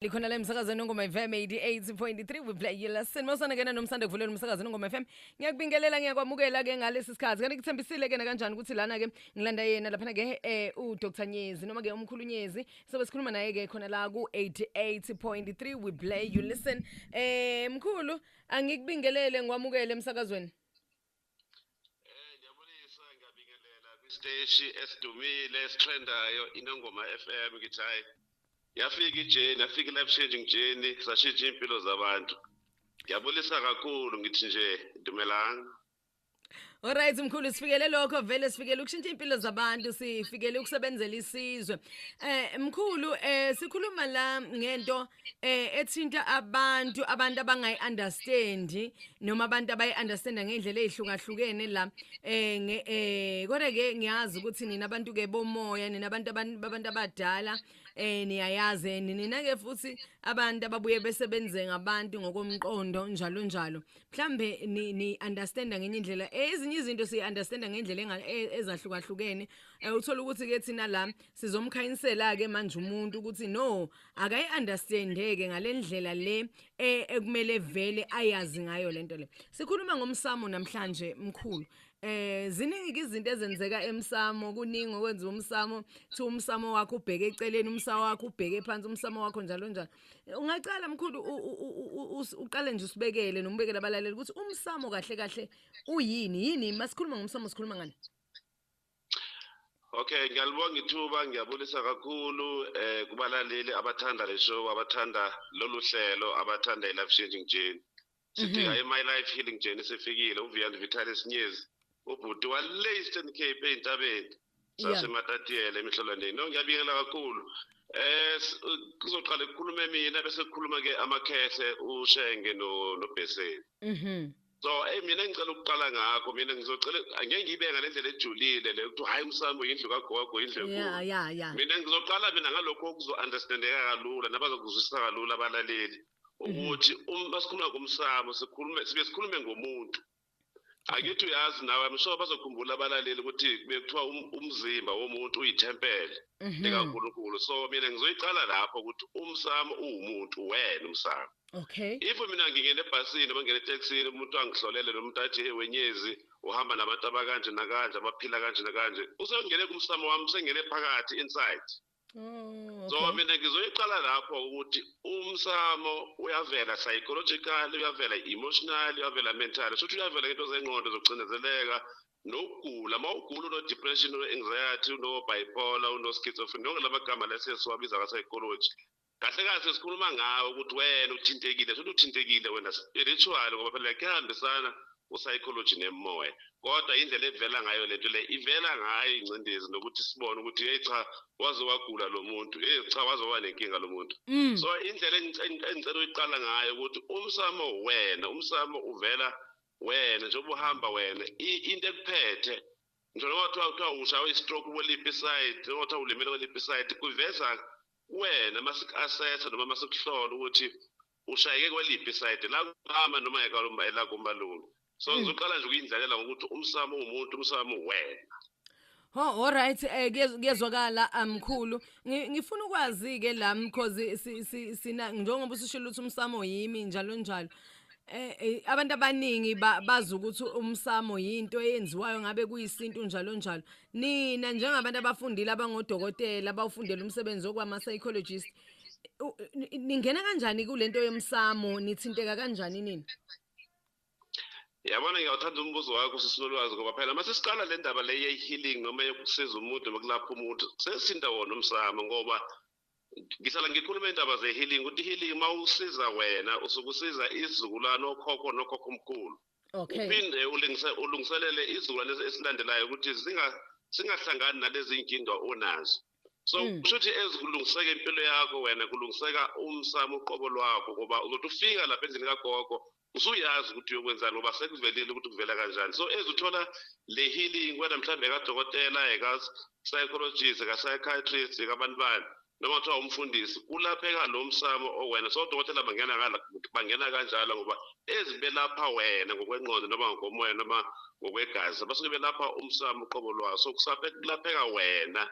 likhona la emsakazweni ongoma fm 88.3 we play yela sinosana kena nomsanda kuvuleni umsakazweni ongoma fm ngiyakubingelela ngiyakwamukela ke ngalesi sikhathi kanti kuthembisile ke nakanjani ukuthi lana ke ngilanda yena laphana ke eh, u Dr Nyezi noma ke umkhulu Nyezi sobe sikhuluma naye ke khona la ku 88.3 we play you listen eh mkhulu angikubingelele ngiwamukele emsakazweni Ngiyabulisa ngiyabingelela kwisteshi esidumile esitrendayo iNongoma FM ngithi hayi yafika ijeni yafika i-life changing journey sashintsha iy'mpilo zabantu ngiyabulisa kakhulu ngithi nje dumelanga Alright mkhulu sifikele lokho vele sifikele ukushintsha impilo zabantu sifikele ukusebenzela isizwe. Eh mkhulu eh sikhuluma la ngento eh ethinta abantu abantu abangayi understand noma abantu abayi understand ngendlela ezihlukahlukene la eh nge eh kodwa ke ngiyazi ukuthi nina abantu ke bomoya nina abantu abantu abadala eh niyayazi nina ke futhi abantu ababuye besebenze ngabantu ngokomqondo njalo njalo mhlambe ni, ni understand ngenye indlela eh, ezinye izinto si understand ngendlela e, ezahlukahlukene eh, uthola ukuthi ke thina la sizomkhayinsela ke manje umuntu ukuthi no akayi understandeke ngalendlela le e- ekumele vele ayazi ngayo lento le sikhuluma ngomsamo namhlanje mkhulu eh ziningi izinto ezenzeka emsamo kuningi okwenza umsamo thi umsamo wakho ubheke eceleni umsamo wakho ubheke phansi umsamo wakho njalo njalo ungaqala mkhulu u- u- u- u- us- uqale nje usibekele nomubekele abalaleli ukuthi umsamo kahle kahle uyini yini masikhuluma ngomsamo sikhuluma ngani Okay ngiyalibonga ithuba ngiyabulisa kakhulu eh kubalaleli abathanda le show abathanda lolu hlelo abathanda i-life changing journey sidinga Mhm. i-my life healing journey sifikile uvian vitalis nyezi ubhuti wale eastern cape ey'ntabeni Yeah. sasematatiele emihlolwaneni no ngiyabingelela kakhulu um kuzoqala kukhulume mina bese kukhuluma-ke amakhehle ushenge no- nobheseni Mhm. so eyi eh, mina ngicela ukuqala ngakho mina ngizocela angeke ngiyibe ngale ndlela ejulile le ukuthi hhayi umsambo yindlu kagogo yindlu enkulu mina ngizoqala mina ngalokho okuzo-understandeka kalula nabazokuzwisisa kalula abalaleli mhm. ukuthi uma sikhuluma ngomsamo sikhulume sibe sikhulume ngomuntu akithi uyazi nawe i'm sure bazokhumbula abalaleli ukuthi bekuthiwa um, umzimba womuntu uyithempele mhm. likankulunkulu so mina ngizoyiqala lapho ukuthi umsamo uwumuntu wena umsamo okay if mina ngingena ebhasini noma ngingena eteksini umuntu angihlolele noma umuntu athi wenyezi uhamba nabantu abakanje nakanje abaphila kanje nakanje usengene kumsamo wami usengene phakathi inside Oh, so mina ngizoyiqala lapho ukuthi umsamo uyavela psychological uyavela emotional uyavela mental shothi uyavela into zengqondo zokucindezeleka nokugula uma ugula uno-depression uno-anxiety uno-bipolar uno-schizophrenia nonke la magama lesiye siwabiza ka-psychology kahle kahle sikhuluma ngawe ukuthi wena uthintekile futhi uthintekile wena spiritual ngoba phela kuyahambisana u-psychology nemoya kodwa indlela evela ngayo lento le ivela ngayo ingcindezi nokuthi sibone ukuthi hey cha waze wagula lo muntu hey cha waze waba nenkinga lo muntu mm. so indlela engicela uyiqala ngayo ukuthi umsamo wena umsamo uvela wena njengoba uhamba wena into ekuphethe njengoba kuthiwa kuthiwa ushawe i-stroke kweliphi isayidi njengoba kuthiwa ulimele kweliphi isayidi kuveza Kuwena masik assess noma masikuhlola ukuthi ushayeke kweliphi side la kumama noma ekalumba ela kumalume. So hmm. ngizoqala nje ukuyindlalela ngokuthi umsamo ungumuntu umsamo wena. Ho oh, all right eh kuyezwakala amkhulu um, ngifuna ukwazi ke la because sina njengoba usishilo ukuthi umsamo yimi njalo njalo Eh, eh abantu abaningi bazi ukuthi umsamo yinto eyenziwayo ngabe kuyisintu njalo njalo nina njengabantu abafundile abangodokotela abawufundela umsebenzi okwama psychologist u- ni- ningena kanjani kulento yomsamo nithinteka kanjani nini yabona ngiyawuthanda umbuzo wakho sisilolwazi ngoba phela uma sesiqala le ndaba le ye-healing noma yokusiza umuntu noma kulapha umuntu sesithinta wona umsamo ngoba ngihlala ngikhuluma iy'ndaba ze-healing ukuthi i-healing uma usiza wena usuke usiza isizukulwane okhokho nokhokho omkhulu okay uphinde ulungise ulungiselele izukulwane esilandelayo ukuthi zinga singahlangani nalezi nkinga onazo so hmm. kusho ukuthi ezikulungiseka impilo yakho wena kulungiseka umsamo uqobo lwakho ngoba uzothi ufika lapha endlini kagogo usuyazi ukuthi uyokwenzani ngoba sekuvelile ukuthi kuvela kanjani so ezithola le healing wena mhlawumbe ekadokotela eka-psychologist eka-psychiatrist ekabantu bani noma kuthiwa umfundisi kulapheka lo msamo owena so dokotela bangena bangena kanjalo ngoba ezi belapha wena ngokwenqondo noma ngokomoya noma ngokwegazi basuke belapha umsamo uqobo lwawo so kulapheka wena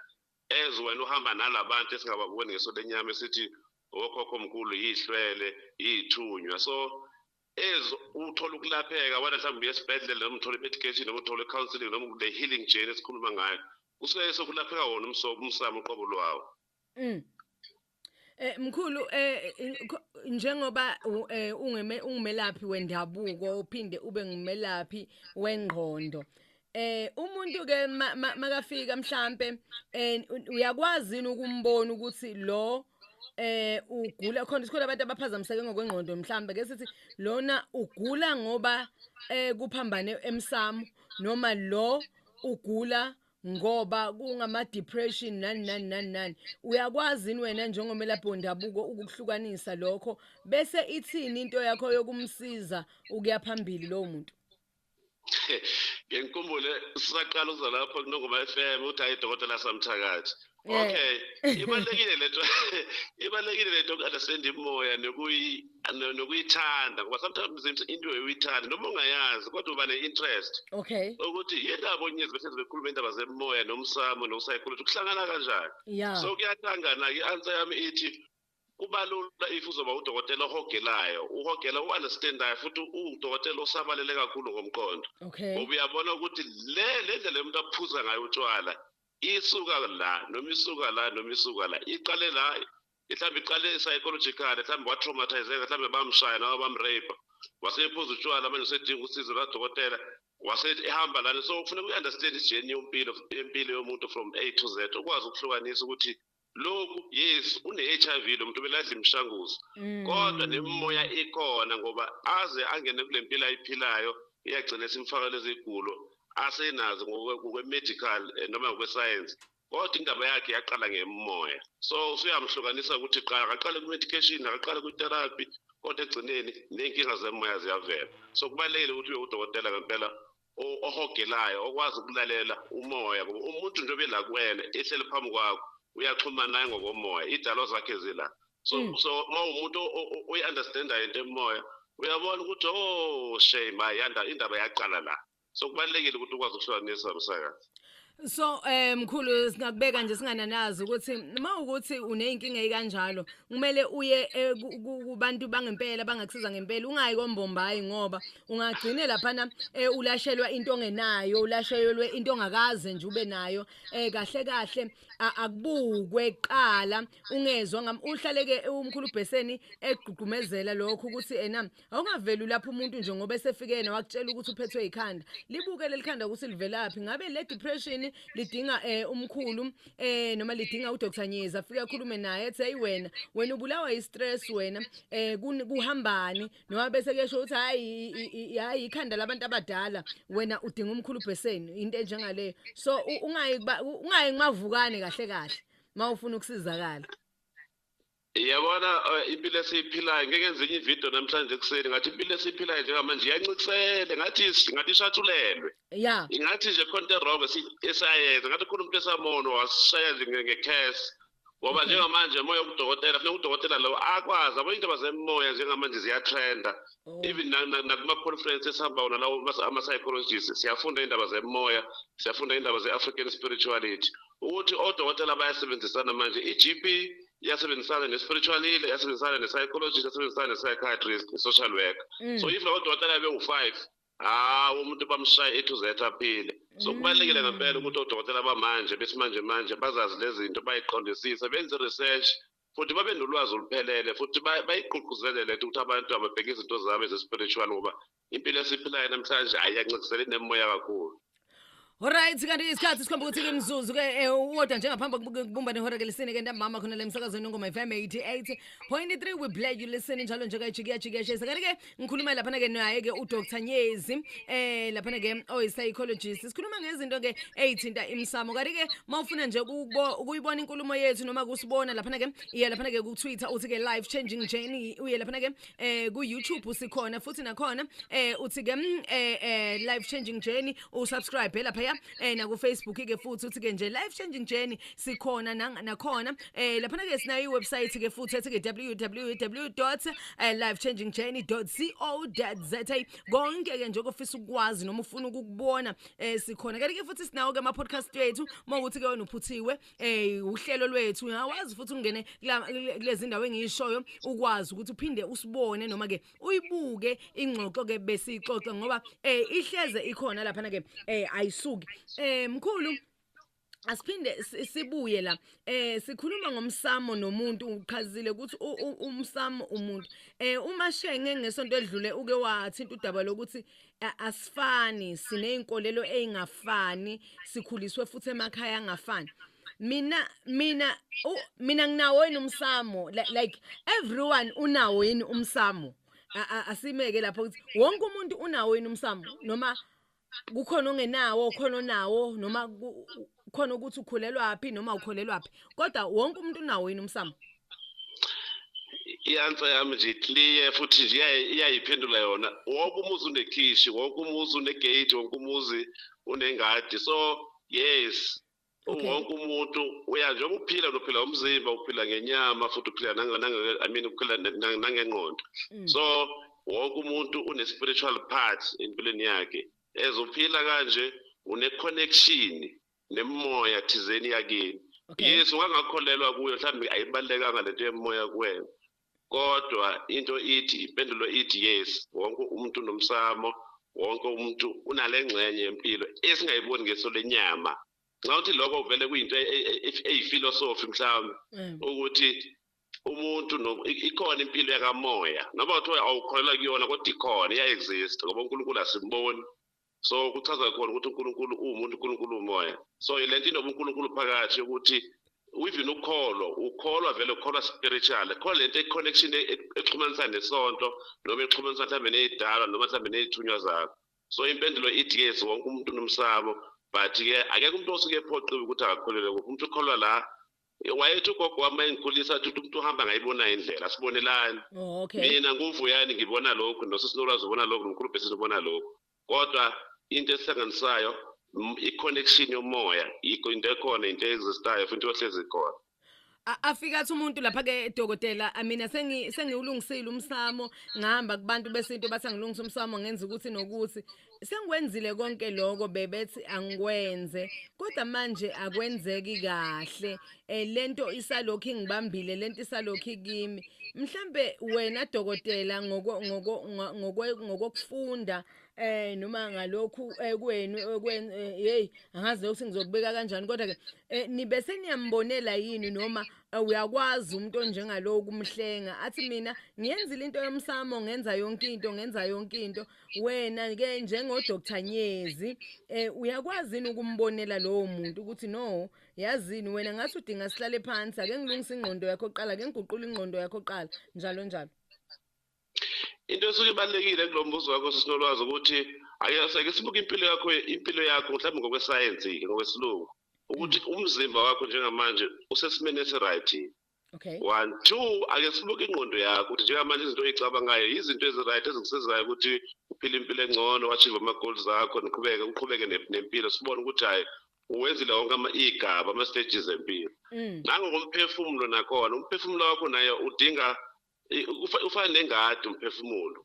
as wena uhamba nalabantu esingababoni ngeso lenyama esithi okhokho mkhulu yihlwele yithunywa so as uthola ukulapheka wena mhlawumbe uye esibhedlela noma uthole i-medication noma uthole i-counseling noma the healing journey esikhuluma ngayo kusuke sekulapheka wona umsobo umsamo uqobo lwawo mm. Eh mkhulu eh njengoba eh ungeme ungumelaphi wendabuko uphinde ube ngumelaphi wengqondo eh umuntu ke makafika mhlambe eh, uyakwazi ukumbona ukuthi lo eh ugula khona sikhona abantu abaphazamiseke ngokwengqondo mhlambe ke sithi lona ugula ngoba eh kuphambane emsamo noma lo ugula ngoba kungama depression nani nani nani nani uyakwazi yini wena njengomelaphi wendabuko ukuhlukanisa lokho bese ithini into yakho yokumsiza ukuya phambili lowo muntu ngengikumbule sisaqala ukuza lapho kunongoma FM uthi hayi dokotela samthakathi okay ibalekile lento ibalekile lento understand imoya nokuyi nokuyithanda ngoba sometimes into uyithanda noma ungayazi kodwa uba ne interest okay ukuthi yindaba onyezi bese bekhuluma indaba zemoya nomsamo no psychology kuhlangana kanjani yeah. so kuyatangana i answer yami ithi Kubalula if uzoba udokotela ohogelayo, uhogela uunderstandayo futhi udokotela osabalele kakhulu ngomqondo. Okay. Ngoba uyabona ukuthi le le ndlela umuntu aphuza ngayo utshwala isuka la noma isuka la noma isuka la iqale la mhlawumbe iqale psychological mhlawumbe watraumatizeka mhlawumbe bamshaya noma bamrape wasephuza utshwala manje usedinga usizo lwadokotela wasehamba lana so kufuneka uyi-understand ijeni yompilo yempilo yomuntu from a to z ukwazi ukuhlukanisa ukuthi lokhu yes une-hiv lo muntu beladla imishanguzo mm. kodwa nemimoya ikhona ngoba aze angene kule mpilo ayiphilayo iyagcina simfaka lezi gulo asenazo ngokwe-medical eh, noma ngokwesayensi kodwa indaba yakhe yaqala ngemimoya so usuyamhlukanisa ukuthi qala akaqale ku-medication akaqale kwi-therapy kodwa ekugcineni ney'nkinga zemoya ziyavela so kubalulekile ukuthi uye udokotela ngempela ohogelayo okwazi ukulalela umoya ngoba umuntu njengoba ela kuwena ehleli phambi kwakho uyaxhumana naye ngokomoya idalo zakhe zila so mm. so uma umuntu uyi-understandayo into emoya uyabona ukuthi o oh, shame hayi indaba yaqala la so kubalulekile ukuthi ukwazi ukuhlukanisa msakazi So eh mkhulu singakubeka nje singananazi ukuthi uma ukuthi uneyinkinga ekanjalo kumele uye eh, ku- ku- kubantu bangempela bangakusiza ngempela ungayi kombombayi ngoba ungagcine laphana eh, ulashelwa into ongenayo ulashelwe into ongakaze nje ube nayo eh kahle kahle a- akubukwe kuqala ungezwa ngam uhlaleke umkhulu ubheseni egqugqumezela lokho ukuthi ena Awungaveli lapho umuntu nje ngoba esefike yena wakutshela ukuthi uphethwe ikhanda. Libuke lelikhanda ukuthi livelaphi. Ngabe le depression lidinga eh umkhulu eh noma lidinga uDr Nyeza afike akhulume naye ethi hey wena wena ubulawa istress wena eh kun- kuhambani noma bese kuyesho ukuthi hayi i- i- i- hayi ikhanda labantu abadala wena udinga umkhulu bheseni into enjengaleyo. So u- ungayi kuba- u- ungayi kumavukane kahle kahle mawufuna ukusizakala. Yabona eh, impilo esiyiphilayo ngeke ngenze enye ivideo namhlanje ekuseni ngathi impilo esiyiphilayo njengamanje iyancikisele ngathi is- ngathi ishathulelwe ya ingathi nje khona into erong esayenza ngathi khona umuntu esamono wasishaya nje nge- ngekhesi ngoba Okay. njengamanje moya udokotela funeka udokotela lowo akwazi abanye indaba zemoya njengamanje ziyatrenda Oh, even na- na- nakuma-conference esihamba wona lawo mas- ama-psychologist siyafunda iy'ndaba zemoya siyafunda iy'ndaba ze-african spirituality ukuthi odokotela bayasebenzisana manje i-GP yasebenzisana ne-spiritual healer yasebenzisana ne-psychologist yasebenzisana ne-psychiatrist ne-social worker mm. so if odokotela bewu-five hawu umuntu bamshaye ethu zethu aphile so mm. kubalulekile ngempela ukuthi odokotela bamanje besimanje manje bazazi lezi zinto bayiqondisise benze research futhi babe nolwazi oluphelele futhi bayigqugquzele lento ukuthi abantu ababheke izinto zabo eze-spiritual ngoba impilo esiphilayo namhlanje ayiyancikiseli nemoya kakhulu Alright kanti isikhathi sikhomba ukuthi kimzuzu ke eh, uwodwa njengaphambi kokubumba nehora ke lisini ke ntambama khona la emsakazweni ngoma FM 88.3 we play you listen njalo nje kayijiki yajiki yashisa kanti ke ngikhuluma laphana ke naye ke uDr Nyezi eh laphana ke oyi psychologist sikhuluma ngezinto ke ezithinta imsamo kanti ke mawufuna nje ukubo- ukuyibona inkulumo yethu noma kusibona laphana ke iya laphana ke ku Twitter uthi ke life changing journey uye laphana ke eh ku YouTube sikhona futhi nakhona eh uthi ke mm, eh eh, life changing journey usubscribe lapha ya eh na ku Facebook ke futhi uthi ke nje life changing journey sikhona nang- nakhona eh lapha ke sinayo iwebsite ke futhi ethi ke www.lifechangingjourney.co.za eh, konke ke nje ofisa ukwazi noma ufuna ukukubona eh sikhona kanti ke futhi sinawo ke ama podcast wethu mawukuthi ke wena uphuthiwe eh uhlelo lwethu uyawazi futhi ungene kulezi ndawo engishoyo ukwazi ukuthi uphinde usibone noma ke uyibuke ingxoxo ke besixoxa ngoba eh ihleze ikhona lapha ke eh ayisuki eh mkhulu asiphinde sibuye la eh sikhuluma ngomsamo nomuntu uqhazile ukuthi umsamo umuntu eh uma shenge ngesonto edlule uke wathinta udaba lokuthi asifani sineyinkolelo ezingafani sikhuliswe futhi emakhaya angafani mina mina mina nginawo yini umsamo like everyone unawo yini umsamo asimeke lapho ukuthi wonke umuntu unawo yini umsamo noma kukhona ongenawo khona onawo noma khona ukuthi ukhulelwaphi noma ukholelwaphi kodwa wonke umuntu unawo yini umsamo i-answer yami nje clear futhi nje iyayiphendula yona wonke umuzi unekhishi wonke umuzi unegate wonke umuzi unengadi so yes Okay. Wonke umuntu uya njengoba uphila uphila umzimba uphila ngenyama futhi uphila nange nange I mean uphila nangengqondo. Mm. So wonke umuntu une spiritual part empilweni yakhe. As uphila kanje une connection nemoya thizeni yakini. Okay. Yes ungangakholelwa kuyo mhlawumbe ayibalekanga lento yemoya kuwena. Kodwa into ithi, impendulo ithi yes, wonke umuntu unomsamo, wonke umuntu unale ngxenye yempilo esingayiboni ngeso lenyama. Nxa uthi lokho vele kuyinto e- e- e- eyifilosofi mhlawumbe Mm. ukuthi umuntu no- i- ikhona impilo yakamoya noma kuthiwa awukholelwa kuyona kodwa ikhona iya-exist ngoba unkulunkulu asimboni so kuchaza khona ukuthi uNkulunkulu uwumuntu uNkulunkulu umoya so ilento inobuNkulunkulu phakathi ukuthi even ukholo ukholwa vele ukholwa spiritual khona lento econnection e, e, exhumanisa nesonto noma exhumanisa mhlawumbe nezidalwa noma mhlawumbe nezithunywa zakho so impendulo ithi yes wonke umuntu unomsamo but ke akekho umuntu osuke ephoqiwe ukuthi akakholelwe kuphi umuntu ukholwa la wayethi ugogo wami mayengikhulisa athi umuntu uhamba ngayibona indlela sibonelani oh, okay. mina nguvuyani ngibona lokhu nosisinolwazi ubona lokhu nomkhulu bhesini ubona lokhu kodwa into esihlanganisayo i-connection yomoya yikho into ekhona into existayo futhi ohlezi khona afika athi umuntu lapha ke dokotela mina sengi sengiwulungisile umsamo ngihamba kubantu besintu bathi angilungise umsamo ngenza ukuthi nokuthi sengikwenzile konke lokho bebethi angikwenze kodwa manje akwenzeki kahle eh, lento isalokhu ingibambile lento isalokhu kimi mhlambe wena dokotela ngoko ngoko ngokokufunda eh noma ngalokhu eh, kwenu eh, kwen eh, hey angazi ukuthi ngizokubeka kanjani kodwa ke nibe seniyambonela yini noma uyakwazi umuntu onjengalowo kumhlenga athi mina ngiyenzile into yomsamo ngenza yonke into ngenza yonke into wena ke njengo Dr Nyezi eh uyakwazi yini ukumbonela lowo muntu ukuthi no yazini wena ngathi udinga sihlale phansi ake ngilungise ingqondo yakho qala ake ngiguqule ingqondo yakho qala njalo njalo into esuke ibalekile kulombuzo wakho sisinolwazi ukuthi ayaseke sibuke impilo yakho impilo yakho mhlawumbe ngokwesayensi ngokwesilungu ukuthi umzimba wakho njengamanje usesimeni esiright Okay. One, two, ake sibuke ingqondo yakho ukuthi njengamanje izinto oyicabangayo yizinto ezi-right ezikusizayo ukuthi uphile impilo engcono wachieve ama-goal zakho niqhubeke uqhubeke nempilo sibone ukuthi hhayi uwenzile wonke iy'gaba ama-stages empilo mm. nangokomphefumulo nakhona umphefumulo wakho naye udinga ufana nengadi umphefumulo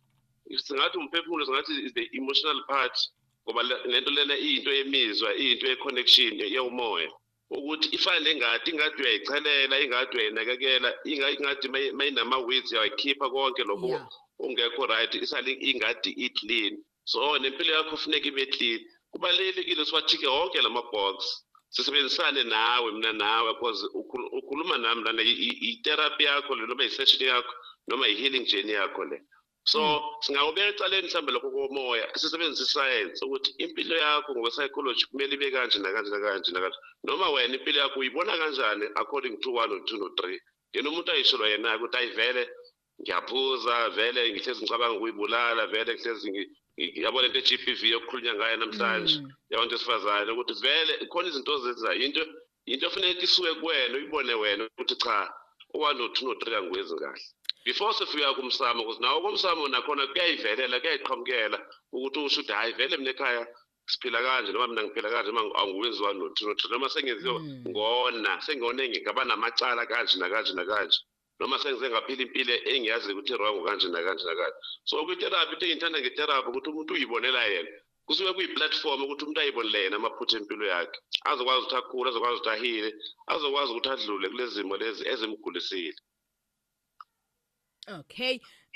singathi umphefumulo singathi is the emotional part ngoba lento lena iyinto yemizwa iyinto ye-connection yewumoya ukuthi ifane nengadi ingadi uyayichelela ingadi uyayinakekela ingadi mayinama-weeds uyayikhipha konke lokho ungekho right isale ingadi i-clean so nempilo yakho kufuneka ibe clean kubalulekile siwathike wonke la ma-box sisebenzisane nawe mina nawe because ukhuluma nami lana i-therapy yakho le noma i-session yakho noma i-healing journey yakho le so hmm. singawubeka eceleni mhlawumbe lokho komoya sisebenzisa isayensi ukuthi impilo yakho ngokwe-psychology kumele ibe kanje nakanje nakanje nakanje noma wena impilo yakho uyibona kanjani according to one or two no three yena umuntu ayishelwa yena-ke ukuthi ayivele ngiyaphuza vele ngihlezi ngicabanga ukuyibulala vele ngihlezi yabo lento e-g p v yokukhulunywa ngayo namhlanje mm. yabantu esifazane ukuthi vele khona izinto ozenzayo into into efuneka isuke kuwena uyibone wena ukuthi cha u-one no-two no-three angikwezi kahle before sifika kumsamo ukuthi nawo komsamo nakhona kuyayivelela kuyayiqhamukela ukuthi usho ukuthi hhayi vele mina ekhaya siphila kanje noma mina ngiphila kanje noma angiwenziwa nothinothi noma sengenziwa mm. ngona sengone ngingaba namacala kanje nakanje nakanje noma sengize ngaphila impilo engiyazi ukuthi wrong kanje nakanje nakanje so kwitherapy into engithanda ngetherapy ukuthi umuntu uyibonela yena kusuke kuyiplatform ukuthi umuntu ayibonele yena amaphutha empilo yakhe azokwazi ukuthi akhule azokwazi ukuthi ahile azokwazi ukuthi adlule kulezimo lezi ezimgulisile okay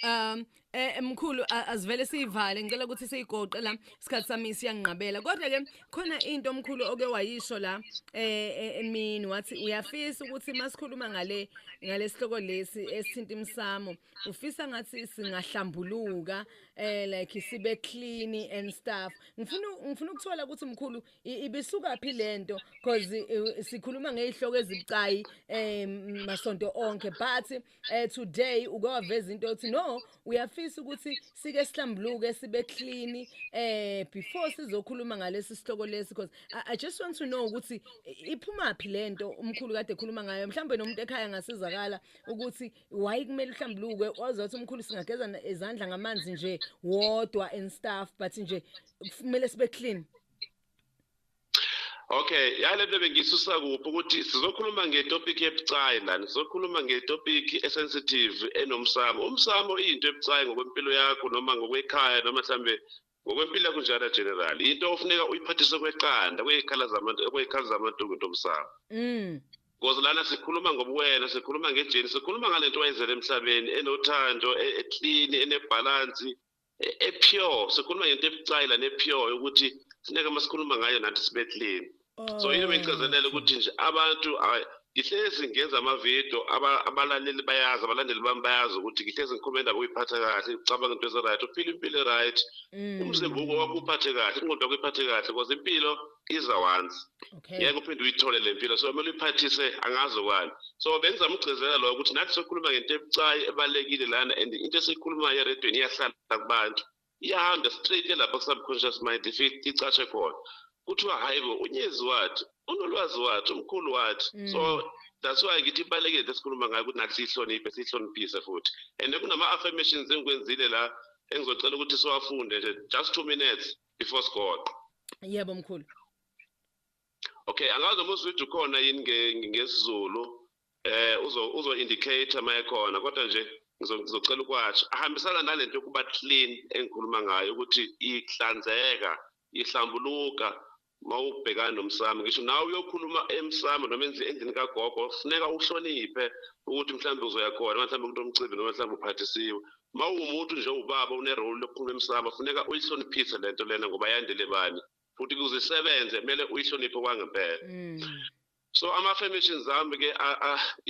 um Eh mkhulu a- asivele siyivale ngicela ukuthi siyigoqe la isikhathi sami siyanginqabela kodwa ke khona into mkhulu oke wayisho la eh eh, emini wathi uyafisa ukuthi masikhuluma ngale ngalesihloko lesi esithinta imsamo ufisa ngathi singahlambuluka eh like sibe clean and stuff ngifuna ngifuna ukuthola ukuthi mkhulu i- ibisuka phi lento because eh, sikhuluma ngezihloko ezibucayi eh masonto onke but eh today uke waveza into yokuthi no uyafisa ukuthi sike sihlambuluke sibe clean eh before sizokhuluma ngalesi sihloko lesi because I, I just want to know ukuthi iphuma phi lento umkhulu kade ekhuluma ngayo mhlawumbe nomuntu ekhaya ngasizakala ukuthi why kumele uhlambuluke ozothi umkhulu singageza na- izandla ngamanzi nje wodwa and stuff but nje kumele sibe clean Okay, yale bebe ngisusa kuphi ukuthi sizokhuluma ngetopic ebucayi lana. Sizokhuluma ngetopic esensitive enomsamo. Umsamo into ebucayi ngokwempilo yakho noma ngokwekhaya noma mhlambe ngokwempilo yakho njalo general. Into ofuneka uyiphathise kweqanda kwezikhala zamantu kwezikhala zamantu ngentomsamo. Mm. Because lana sikhuluma ngobuwena, sikhuluma ngejeni, sikhuluma ngalento wayizela emhlabeni enothando, e-clean, enebhalansi. epure sikhuluma ngento ebucayi lana epure ukuthi sineke uma sikhuluma ngayo nathi sibethleni so yini bengigcizelela ukuthi nje abantu ngihlezi ngenza amavidiyo abalaleli bayazi abalandeli bami bayazi ukuthi ngihlezi ngikhuluma indaba ukuyiphatha kahle ucabanga into ezi-right uphile impilo e-right mm. umzimba uko wakuphathe kahle ingqondo yakuyiphathe kahle because impilo iza once okay ngeke uphinde uyithole le mpilo so kumele uyiphathise angazi okwani so bengizama ukugcizelela loyo ukuthi nathi sokhuluma ngento ebucayi ebalulekile lana and into esiyikhulumayo eredweni iyahlala kubantu iyahamba straight elapha ku-subconscious mind ifike icashe khona kuthiwa hhayi bo unyezi wathi unolwazi wathi umkhulu wathi mm. so that's why ngithi ibalulekile into esikhuluma ngayo ukuthi nathi siyihloniphe siyihloniphise futhi and kunama-affirmations engikwenzile la engizocela ukuthi siwafunde nje just two minutes before sigoqo yebo mkhulu okay angazi uma uswitch ukhona yini ngesizulu eh uzo uzo indicator mayekhona kodwa nje ngizocela ukwasha ahambisana nalento yokuba clean engikhuluma ngayo ukuthi ihlanzeka ihlambuluka mawubhekana nomsamo ngisho nawe uyokhuluma emsamo noma endlini kagogo funeka uhloniphe ukuthi mhlawumbe uzoya khona mhlawumbe kunomcimbi noma mhlawumbe uphathisiwe Uma uwumuntu nje ubaba une role lokukhuluma emsamo funeka uyihloniphise lento lena ngoba yandele bani futhi kuze isebenze kumele uyihloniphe kwangempela. Mm. So ama affirmations zami ke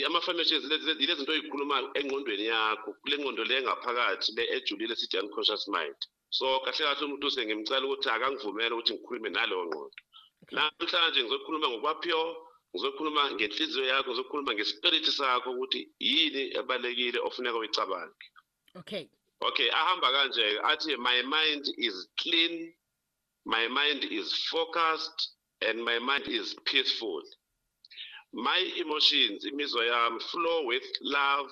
ama affirmations lezi lezi zinto oyikhuluma engqondweni yakho kule ngqondo le ngaphakathi le ejulile sithi unconscious mind. so kahle kahle umuntu sengimcela ukuthi akangivumele ukuthi ngikhulume naleyo ngqondo namhlanje ngizokhuluma ngokwaphiwo ngizokhuluma ngenhliziyo yakho ngizokhuluma ngespirit sakho ukuthi yini ebalekile ofuneka uyicabange okay okay ahamba kanje athi my mind is clean my mind is focused and my mind is peaceful my emotions imizwa yami flow with love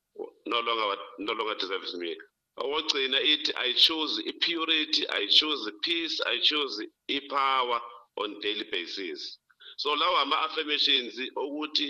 no longer what no longer deserves me owogcina ithi i choose i-purity i choose peace i choose i-power on daily basis so lawa ama-affirmations okuthi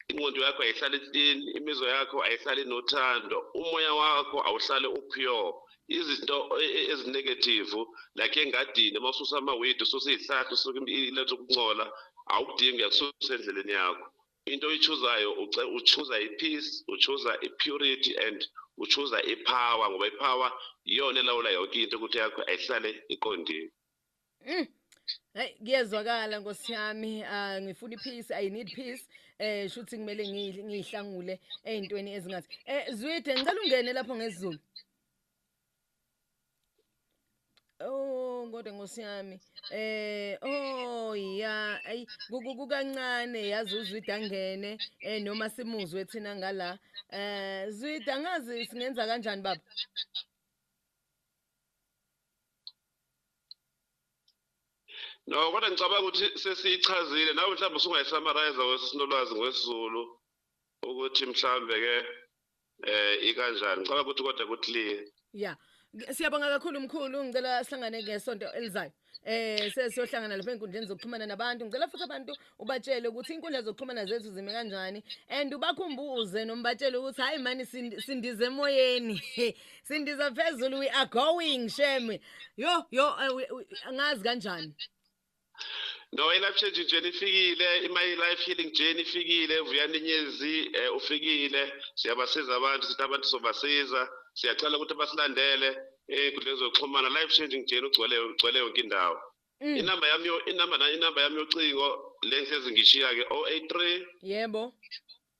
ingqondo yakho ayihlali clean imizwa yakho ayihlali nothando umoya wakho awuhlale upure izinto e, e, ezinegative like engadini uma ususa ama-wid ususa iy'hlahla usuke iletha ukuncola awukudingi uyakususa endleleni yakho into oyichuzayo uchuza i-peace uchuza i-purity and uchuza i-power ngoba i-power iyona elawula yonke into ukuthi yakho ayihlale iqondile mm. Hey kuyezwakala Nkosi yami ah, ngifuna ipeace i need peace eh shuthi kumele ngiyihlangule ezintweni ezingathi eh Zwide ngicela ungene lapho ngezulu Oh kodwa nkosi yami eh oh ya ayi kukancane yazi uzwida ngene eh noma simuzwe thina ngala eh zwida ngazi singenza kanjani baba No kodwa ngicabanga ukuthi sesiyichazile nawe mhlawumbe usungayisamarize wesisinolowazi ngwesiZulu ukuthi mhlawumbe ke eh ikanjani ngicela ukuthi kodwa kuthi ya siyabonga kakhulu mkhulu ngicela sihlangane ngesonto elizayo eh sesiyohlangana lapha enkundleni zokuxhumana nabantu ngicela futhi abantu ubatshele ukuthi inkundla zokuxhumana zethu zime kanjani and ubakhumbuze nombatshele ukuthi hayi mani sindize emoyeni sindiza phezulu we are going shame yo yo eh, ngazi kanjani No, i-life changing journey ifikile, my life healing journey ifikile, Vuyani Nyezi eh, ufikile. Siyabasiza abantu, sithi abantu sobasiza. Siyacela ukuthi basilandele enkundleni zokuxhumana. Life changing journey ugcwele ugcwele yonke indawo. Mm. Inamba yami yo- inamba na inamba yami yocingo le ngihlezi ngishiya ke 083 Yebo.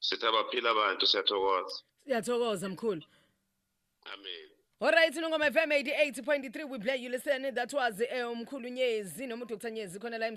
Sitha baphila abantu siyathokoza. Siyathokoza mkhulu. Amen. Alright Nongoma FM 88.3 we play you listen that was eh, umkhulu Nyezi noma uDr Nyezi khona la